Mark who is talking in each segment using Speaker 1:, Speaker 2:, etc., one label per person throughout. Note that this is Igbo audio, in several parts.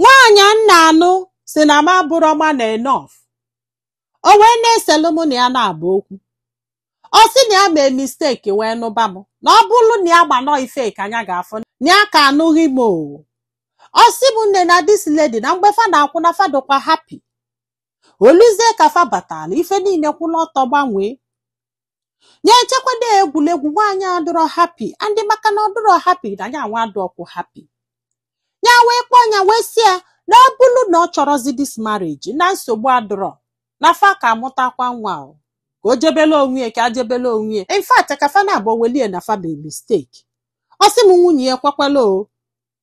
Speaker 1: nwaanyị m na-anụ sị na m abụrọ man enough o wee na-eselu mụ na ya naabọ okwu ọ sị na ya mee mistake wee nụba m na ọ bụrụ na ya ma na ọ ife ka nya ga-afụ na ya ka anụghị m o ọ sị m nne na this lady na mgbe fa na-akwụ na fa dịkwa happy oluzie ka fa batara ife niile kwụrụ ọtọ gbanwee ya echekwado egwuregwu nwaanyị adịrọ happy and maka na ọ dịrọ happy na ya nwa adịrọkwu happy ya wee kpọọ ya wee sị ya na ọ bụrụ na ọ chọrọzi this marriage na nsogbu adịrọ na fa ka amụtakwa nwa o ka o jebele onwe ya ka a jebele onwe ya in fact ka fa naabọ welie na fa mee mistake ọ sị m nwunye ya ekwekwala o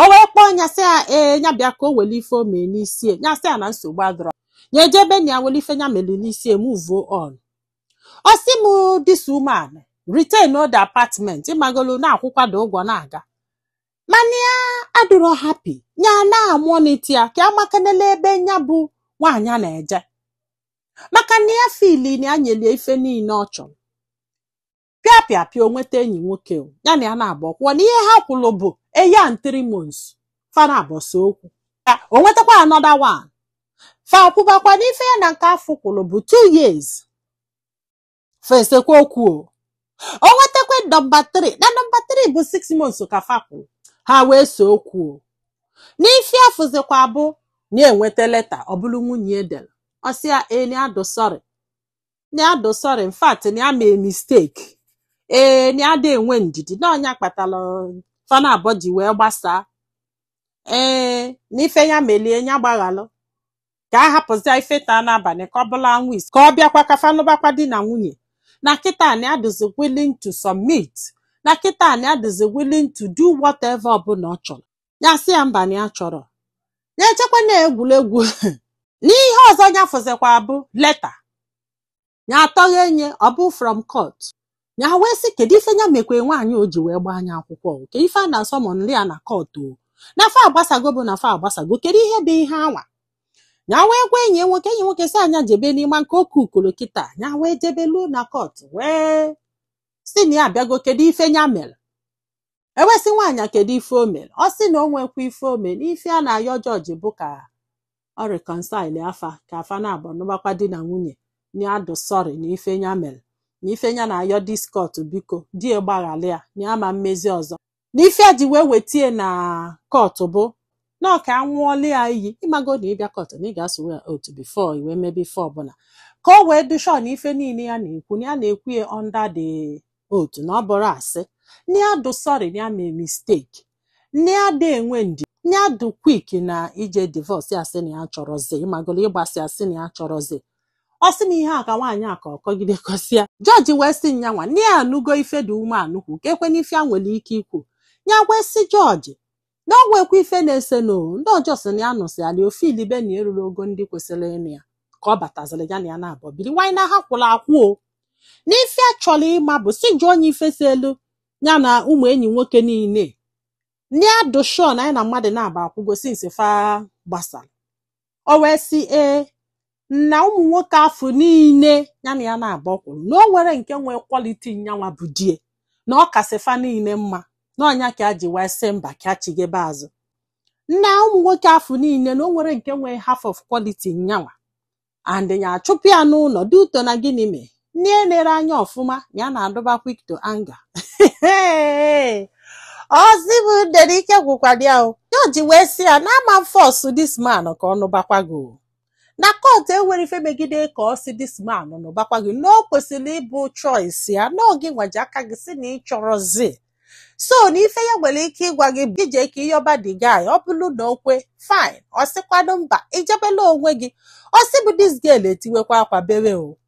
Speaker 1: o wee kpọọ nya sị ya ee nya bịa ka o wele ife o mee n'isi ya nya sị ya na nsogbu adịrọ ya eje be nna ya wele ife nya mere n'isi ya muvuo on ọ sị m this woman retain old apartment ịmagolu na-akwụkwado ụgwọ na-aga mana ya adịrọ happy ya na-amonitor ya ka amakanela ebe nya bụ nwaanyị a na-eje maka na ya feel na ya nyelie ife niile ọ chọrọ pịa pịa pịa o nweta enyi nwoke o, ya na ya naabọ akwụwa na ihe ha kwụrụ bụ a year and three months fa naabọ ese okwu o nwetakwa another one fa kwụbakwa n'ife ya na nke afụ kwụrụ bụ two years fa esekwa okwu o o nwetakwa number 3 na number 3 bụ 6 months ka fa kwụrụ ha wee see okwu o n'ife ya fụzikwa bụ na ya nweta leta ọ bụrụ nwunye ya dere ọ sị ya ee na ya dị sorry na ya dị sorry in fact na ya mee mistake ee na ya ada enwe ndidi na ọ nya kpatara fa naabọ ji wee gbasaa ee na ife ya melie ya gbaghalụ ka a hapụzia ife taa n'abalị ka ọ bụlụ anwụ isi ka ọ bịakwa ka fa nụbakwa di na nwunye na kịta na ya dịzi willing to submit na kịta na ya dịzi willing to do whatever ọbụla ọ chọrọ ya sị ya mba na ya achọrọ ya echekwa na ọ egwuregwu n'ihe ọzọ ya fụzikwa bụ leta ya atọghee nya ọ bụ from court ya wee sị kedu ife ya mekwe nwaanyị o ji wee gbaa nya akwụkwọ o? kedu ife a na-asummonrị ya na court o na fa agbasago bụ na fa agbasago kedu ihe bụ ihe anwa ya wee gwa enyi ya nwoke enyi nwoke sị nya jebe n'ime nke oke ukoro kịta ya wee jebe luo na court wee sị na ya abịago kedu ife ya mere e wee sị nwaanyị a kedu ife o mere ọ sị na o nwekwa ife o mere ife a na-ayọ judge bụ ka ọ reconcile fa ka fa naabọ nụbakwa di na nwunye na ya dị sorry na ife ya mere na ife ya na-ayọ this court biko di ya gbaghalị ya na ya ama emezi ọzọ na ife ya ji wee wete ya na court bụ na ọ ka ya ṅụọlụ ya iyi ịmago na ị bịa court na ị ga-aswear oath before i wee mebe ife ọbụla ka o wee dị sure na ife niile ya na-ekwu na ya na-ekwu ya under the oath na ọ bụrọ asị na ya dụ sọrị na ya mee misteki na ya adụ enwe ndidi ya dụ kwik na ije divọs ya sị na ya achọrọzi ị magolo ịgbasị ya sị na ya achọrọzi ọ sị na ihe a ka nwaanyị a ka ọ kọgide kọsịa jọji wee sị nyanwa na ya anụgo ife di woman kwu kee kwanụ ife ya nwere ike ikwu ya wee sị jọji na ọ nwekwa ife na-ese nụ na ọ just na ya nụsịala o fiilibe na ya erurọ ogo ndị kwesịrị ịnụ ya ka ọ bataziri ya na ya naabọ biri nwaanyị na ha kwụrụ akwụ o na ife ya chọrọ ịma bụ sị jụọnụ ya ife seelu ya na ụmụ enyi nwoke niile na ya dụ shọọ na ya na mmadụ naabọ akwụgo sinsi fa gbasara o wee sị ee na ụmụ nwoke afụ niile ya na ya naabọ kwụrụ na o nwerọ nke nwee kwaliti nyanwa bụ di ya na ọ kasị fa niile mma na ọ nya ka ya ji wee sị mba ka ya chigebe azụ na ụmụ nwoke afụ niile na o nwerọ nke nwee half of quality nyanwa and ya achụpụ ya n'ụlọ due to na gịnị mee na ya enerọ anya ọfụma ya na-adụba quick to anger ọ sị bụ dere ike gwụkwara ya o jọji wee sị ya na ama m fọs dis man ka ọ nụbakwa gị o na kọtụ enwerọ ife megide ka ọ sị dis man nụbakwa gị na o kwesịrị ịbụ choice ya na ọ gịnwa ji aka gị sị na ị chọrọzi so na ife ya nwere ike ịgwa gị bụ i jee ka ị yọba di guy ọ bụrụ na o kwe fine ọ sịkwanụ mba i jebelụ onwe gị ọ sị bụ dis girl etiwekwa akwa bewe o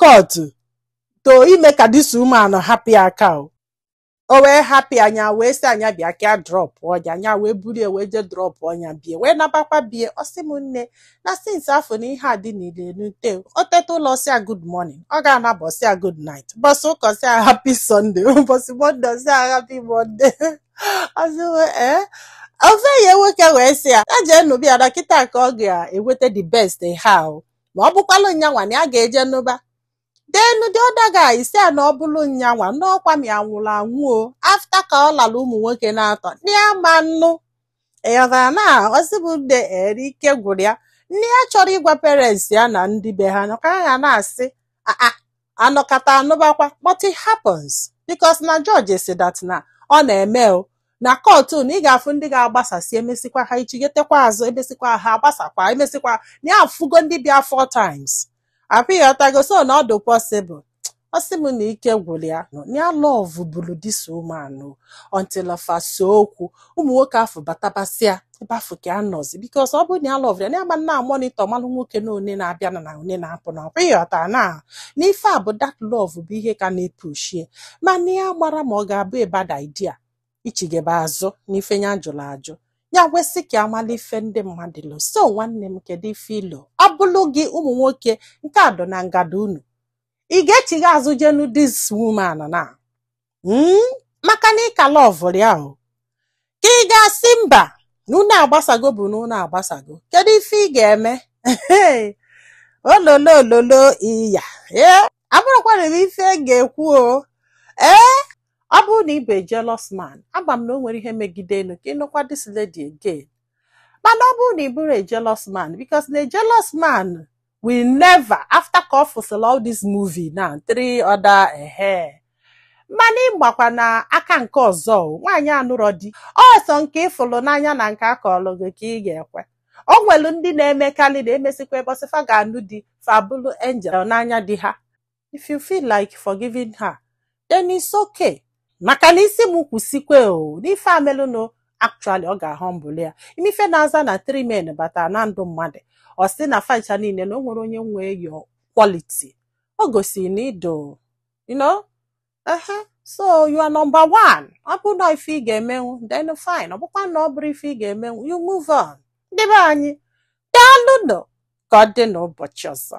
Speaker 1: kọtụ to ime ka dis woman hapụ ya aka o o wee hapụ ya nya wee sị ya bịa ka ya drọpụọ nya nya wee buru ya wee jee drọpụọ nya be ya wee nabakwa be ya ọ sị m nne na since afụ na ihe a dị n'ile nute o teta ụla sị ya good morning ọ ga-anaba ọ sị ya good night ụbọsị ụka sị ya happy sunday ụbọsị monde sị ya happy monde ọ sị ee ofu enyi ya nwoke wee sị ya ya jee nụba ya na kịta ka ọ ga-enweta the best ha o na ọ bụkwalụ nyanwa na ya ga-eje nụba then di other guy sị ya na ọ bụlụ nyanwa na ọ ka mma ya nwụrụ anwụ o afta ka ọ lara ụmụ nwoke n'atọ na ya ama nnụ ị ghọtara na ọ sị bụ nde ere ike gwụrụ ya na ya achọrọ ịgwa parents ya na ndị be ha na ka ha na-asị aa anọkata anụbakwa but it happens because na jọji sị dat na ọ na-eme o na kọtụ na ị ga-afụ ndị ga-agbasasị emesikwa ha echigetekwa azụ emesikwa ha agbasakwa emesikwa na ya afụgo ndị bịa four times afụ ị ghọtago so na ọ dị possible ọ sị m na ike gwụrụ ya ya lọvụburu dis woman until fa see okwu ụmụ nwoke afụ batabasịa ebe afụ ka anọzi because ọ bụrụ na ya lọvụrụ ya na ama na monitor malụ nwoke na one na-abịa na na one na-apụ na ọkwa ịghọta na n'ife a bụ that love bụ ihe ka na-epushie mana ya amarọ ma ọ ga-abụ a bad idea ichigebe azụ n'ife ya jụrụ ajụ ya wee sị ka a mala ife ndị mmadụ lo so nwanne m kedu ife i lo ọ bụlụ gị ụmụ nwoke nke a dọ na ngada unu ị ga-echigha azụ je nụ this woman na mm, maka na ị ka lọvụrụ ya o ka ị ga-asị mba na unu agbasago bụ na unu agbasago kedu ife ị ga-eme ololo ololo iya ee abụrụkwara m ife m ga-ekwu o ee ọ bụrụ na ị bụ a jealous man agba m na o nwerọ ihe megide enu ka ị nụkwa this lady again mana ọ bụrụ na ị bụrọ a jealous man because na a jealous man will never after ka ọ fụsịla all this movie na three other ehe mana ị bịakwa na aka nke ọzọ o, nwaanyị anụrọ di ọ sọ nke ị fụlụ n'anya na nke a kọlụ gị ka ị ga-ekwe o nwelu ndị na-emekarị na emesịkwa ụbọsị fa ga-anụ di fa abụlụ angel n'anya di ha if you feel like forgiving her then it's okay maka na ị sị m kwụsịkwe o n'ife amelụnụ actually ọ ga-ahụ mbụlụ ya ị ma ife na-aza na three men batara na ndụ mmadụ ọ sị na facha niile na o nwerọ onye nwee your quality o gosiri na ido you know ehe so you are number one ọ bụ na ife ị ga-emenwu then fine ọ bụkwa na ọ bụrọ ife ị ga-emenwu you move on ndị be anyị daalụ nụ ka ọ dị n'ụbọchị ọzọ